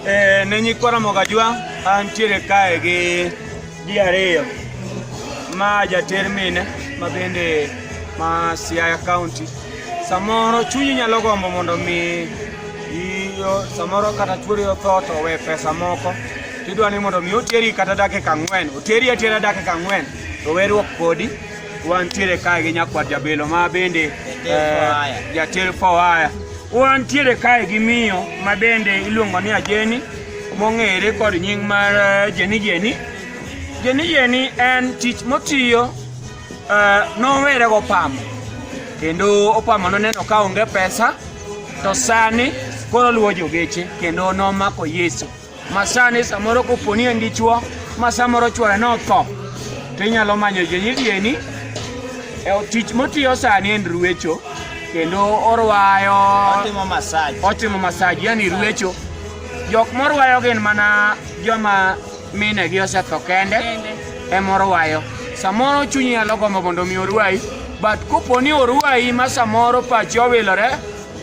Eh, ne nyikwara Mogajwa antiere kae gi ji ariyo ma jater mine ma bende ma Siaya County. Samoro chunyi nyalo gombo mondo mi iyo samoro kata chuori otho to we pesa moko tidwa ni mondo mi oteri kata dakika ang'wen oteri atera dakika ang'wen to werruok kodi Wantiere kae gi nyakwar jabelo ma bende jater fowaya. Wantiere kae gi miyo ma bende iluongo ni Ajeni mong'ere kod nying mar eh, Jeni Jeni. Jeni Jeni en tich motiyo eh, nowere gopamo kendo opamo noneno ka onge pesa to sani koro luwo jogeche kendo nomako Yesu. Masani samoro koponi en dichuo ma samoro chwore notho to inyalo manyo jonyirieni e tich motiyo sani en ruecho kendo orwayo otimo masaj otimo masaj yani ruecho jok morwayo gin mana joma mine gi osetho kende ema orwayo samoro chunyi nyalo gombo mondo mi orwayi but koponi orwayi ma samoro pachi owilore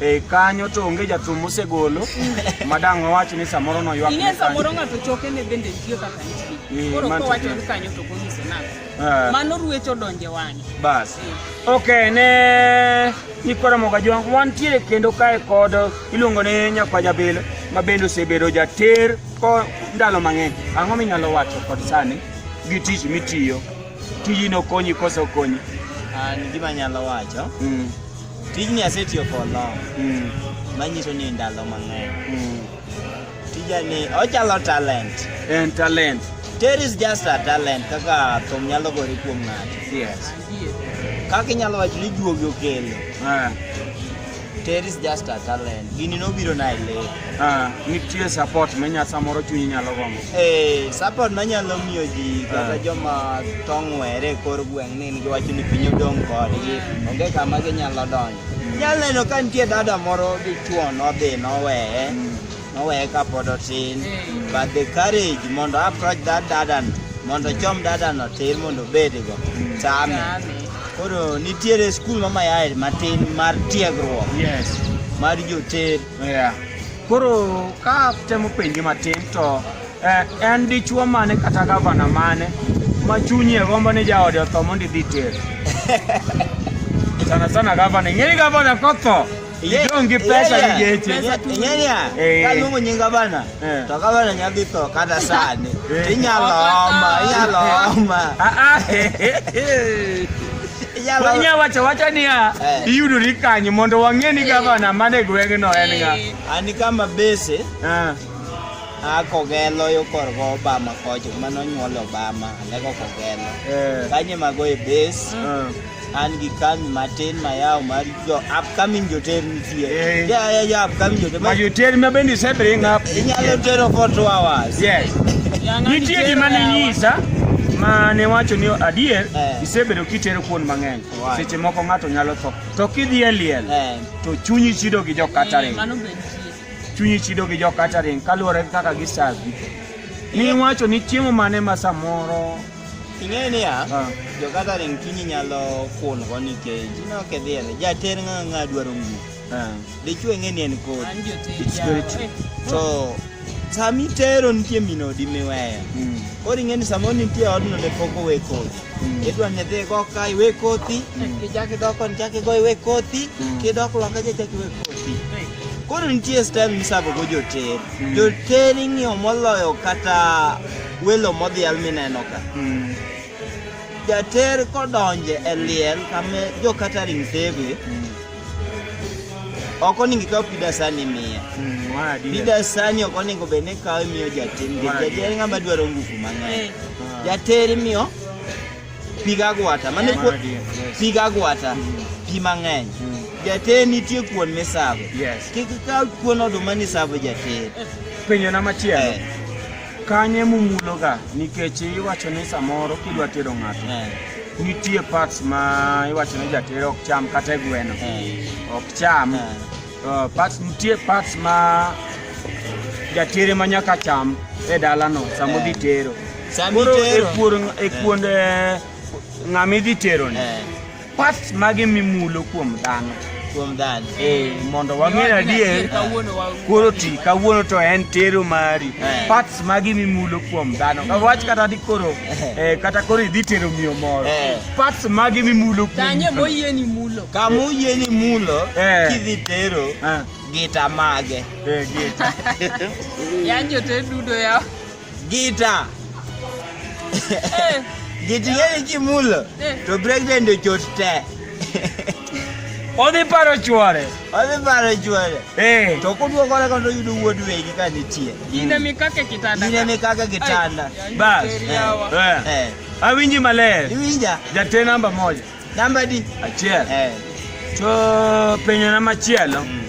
E kanyo to onge jathum mosegolo madang' wawach ni samoro noywak. Ine samoro ng'ato choke ne bende nitie kaka nitie. Eh, Koro kowacho ni kanyo to konyiso nang'o. Eh. Mano ruecho donje wang'e. Bas. Eh. Okay, ne Nikwara Mogajwang' wantiere kendo kae kod iluongo ni Nyakwa Jabilo ma bende osebedo jater ko ndalo mang'eny. Ang'o minyalo wacho kod sani gi tich mitiyo? Tijino konyi koso konyi? An gima nyalo wacho. Mm. Tijni asetiyo kono. Mm. Manyiso ni ndalo mang'eny. Mm. Tijani ochalo talent. En talent. There is just a talent kaka thum nyalo gore kuom ng'ato. Yes. Kaka inyalo wacho ni juogi okelo. Ah. There is just a talent. Gini nobiro na e lek. Ah, nitie support minya samoro chunyi nyalo gombo. Eh, support manyalo miyo ji kata ah. joma tong' were kor gweng' ni nigi wach ni piny odong' kodgi, onge kama ginyalo donjo. Mm. Nyalo neno ka nitie dada moro dichuo nodhi noweye, mm. noweye kapod otin, mm. but the courage mondo approach that dada mondo chom dada no tir mondo obedgo, tame. Koro nitiere skul mamayae matin mar tiegruok. Yes. Mar joter. Yeah. Koro ka temo penji matin to eh, en dichuo mane kata gavana mane ma chunye gombo ni jaode otho mondo idhi ter sana sana gavana ing'eni gavana kotho idong' gi pesa gi geche Ing'eni ya? Eh. Kaluongo nying gavana. Eh. To kama ne nyadhi to kata sani. Eh. Inyalo oma, inyalo oma. Ah ah. Wanya wacha wacha niya eh. iyudori kanyo mondo wang'e ni gavana mane gweng'no en ng'a. Ani kama bese. Ah. Ah, kogelo yo kor go Obama kocho mano nyuolo Obama, lego kogelo. Eh. Kanye mago e base. Ah. an gi kambi matin mayawo mar jo upcoming joterni tie Eh. Ja- ja- ja upcoming joterni ma joterni ma bende ise bring up inyalo tero for two hours yes nitie gima ninyisa ma ne wacho ni adier Eh. isebedo kitero kuon mang'eny Why? seche moko ng'ato nyalo tho to kidhi e liel Eh, to chunyi chido gi jo catering Mano be nitie. chunyi chido gi jo catering kaluwore gi kaka gisavi niwacho ni chiemo mane ma samoro Ing'eyo niya, Ah. jo-gathering chunyi nyalo kungo nikech ineno kidhi e li- jater ng'a ng'a dwaro nguo. Eh, Dichwo ing'e ni en kodi. An jotich It's very yawa. true. Eh, To sama itero nitie min odi miweyo. mm, Koro ing'e ni samoro nitie odno ne pok owe kodi. Mm. Idwa ni idhi go ka iwe kothi, Mm. kichak idok koni chak igo iwe kothi, Mm. kidok loka cha chak iwe kothi. eh, Koro nitie style misabogo joter. Mm. Joter ing'iyo moloyo kata Welo modhial mineno ka. Mm. Jater kodonje e liel kame jo catering sebe. Mm. Oko ningi ka pida sani miye. Mm, wadi. Pida sani oko ningo bene ka miyo jater. Jater ngama dwaro nguvu mang'eny. Eh. Ah. Jater miyo piga gwata. Mane ko piga gwata. Mm. Pi mang'eny. Mm. Jater nitie kuon misabo. Yes. Kik ka kuon oduma ni sabo jater. Penyo na machielo. Eh. Kanye mumuloga nikech iwacho ni samoro kidwa tero ng'ato eh. nitie parts ma iwacho ni jatere ok cham kata e gweno eh. ok cham eh. oh, parts nitie parts ma jatere ma nyaka cham e dalano sama odhi tero koro e kuonde ng'ama idhi teroni Parts mage mimulo kuom dhano? Kuom dhano. Eh, mondo wang'e adier. Koro ti kawuono to en tero mari. Eh. Parts mage mimulo kuom dhano? Ka wach kata di koro eh. eh kata koro idhi tero miyo moro. Eh. Parts mage mimulo kuom dhano? Tanye moyie ni mulo. Ka moyie ni mulo eh. kidhi tero. Eh. Gita mage. Eh, gita. Yanjo te dudo yao. Gita. Eh. Giti yeri kimulo. Eh. To president ochot te. Odhi paro chwore. Odhi paro chwore. Eh. To kuduo kore kondo yudo wuod wegi ka nitie. Ine mi kake kitanda. Ine mi kake kitanda. Bas. Eh. Awinji maler. Iwinja. Jatee namba moja. Namba di achiel eh. To penyo na machielo mm.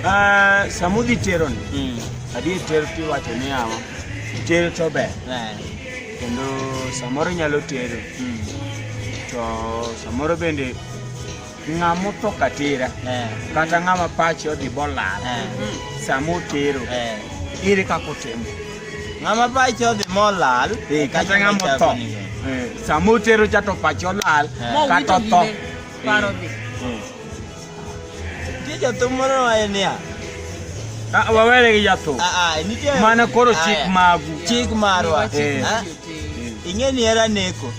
uh, ah, samudhi tero ni mm. adier tero tiwacho ni yawa tero to ber eh. kendo samoro nyalo tero mm. to samoro bende ng'ama otho katera eh. kata ng'ama pache odhi bolal eh. sama otero eh. ere kaka otimo Ng'ama pache odhi molal. Eh, kata ng'ama otho. Eh, sama otero cha to pache olal eh. kata otho. Paro dhi. Nitie jathum moro waye niya. Ah, wawere gi jathum. Ah, ah, nitie. Mana koro chik magu. Chik marwa. Ing'e ni era neko.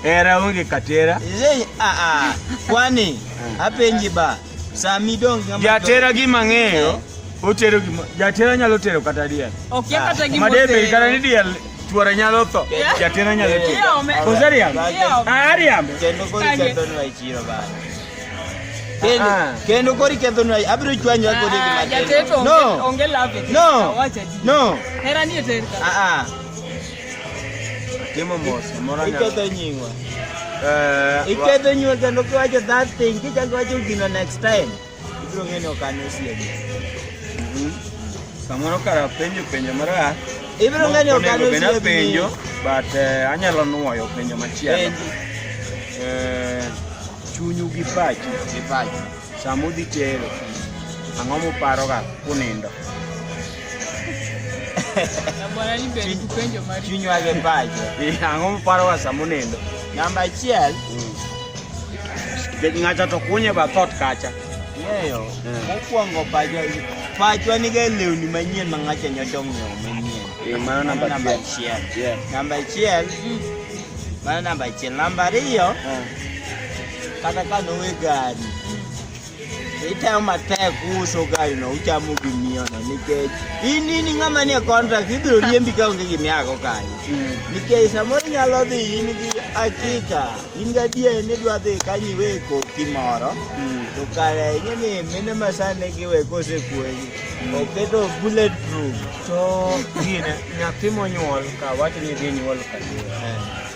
Era onge katera. Kwani apenji ba. Sami dong ng'ama jatera gi mang'eyo otero gima jatera nyalo tero kata diel okia kata gima madebe kata ni diel chuora nyalo tho jatera nyalo tero kozariam ariam kendo kori kendo nwa ichiro ba kendo ah. kendo kori kendo nwa abiro chwanyo ako de gima ah, no onge love no no era ni eterka a ah, a Atimo mos, moro anyalo. Iketho nyingwa. Eh, wa- Iketho nyingwa kendo kiwacho that thing, kichako wacho gino next time. Ibiro ng'eyo ni ok an osiepe. Mhm. Samoro kara penjo penjo marach. Ibiro ng'eyo ni ok an Onego bed osiepe. apenjo, but eh, anyalo nuoyo penjo machielo. Penji. Eh, chunyu gi pachu Gi pacho. sama udhi tero ang'o muparoga kunindo chinywage pacho ang'o muparo wa samunendo namba achiel ng'ato to kunye ba thot kacha ng'eyo mokwongo pacho pachwa niga lewni manyien ma ng'acha nyocha ong'iewo manyien eh, mano namba achiel namba achiel mano namba achiel namba ariyo eh. kata ka nowe gari Itayo matek uso gari no uchamo gi miyo no nikech in in ng'ama nie contract ibiro riembi ka onge gimi ako kanyo nikech samoro inyalo dhi in gi akika in gadier ni idwa dhi kanyo iwe koki moro to kare ing'e ni mine ma sani giwe kosekuogi oketo bullet proof to gine nyathi monyuol ka wacho ni dhi nyuol ka